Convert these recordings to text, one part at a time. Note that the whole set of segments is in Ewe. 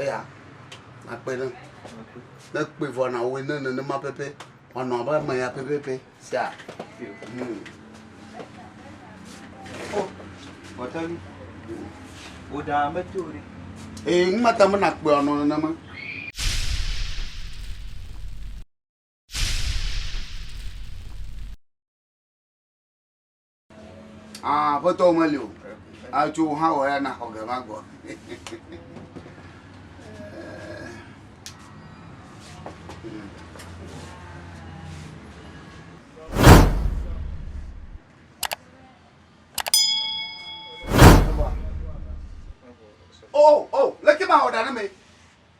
Eya nakpe ɖe ne kpe vɔ na wo ne nenema pɛpɛ wanɔ abe ame ya pɛpɛpɛ sia. Bɔtɔli, wò ɖa mete o ɖe. Ee, nu mata me nakpe wanɔ nenema. Ah, aƒetɔ wo meli o. Atso wo hã wɔ ya na xɔ ge ma gbɔ. Oh, oh, leke ma wɔ ɖa ne me.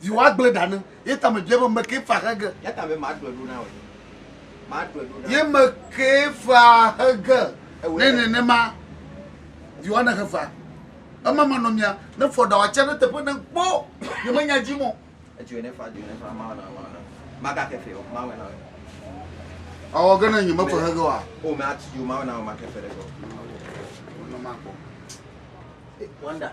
Zi woagblẽ ɖa ne ye tame bia be meke fea xe ge. Ya ta be maɖɔe ɖo na wò. Maɖɔe ɖo na. Ye meke fea xe ge. Ne nenema vi woane xe fea. Ema manɔ mia ne fɔ ɖa wòatsia ɖe teƒe ne kpɔ ye menya dzi mɔ. Edzoe ne fa dzoe ne fa mawe na mawe na. Maka ke fe o mawe na we. Awɔ ge ne nye mefe xe ge wa. O me ati yo mawe na we make fe ɖe ge o. Wonɔ makpɔ. Wonder.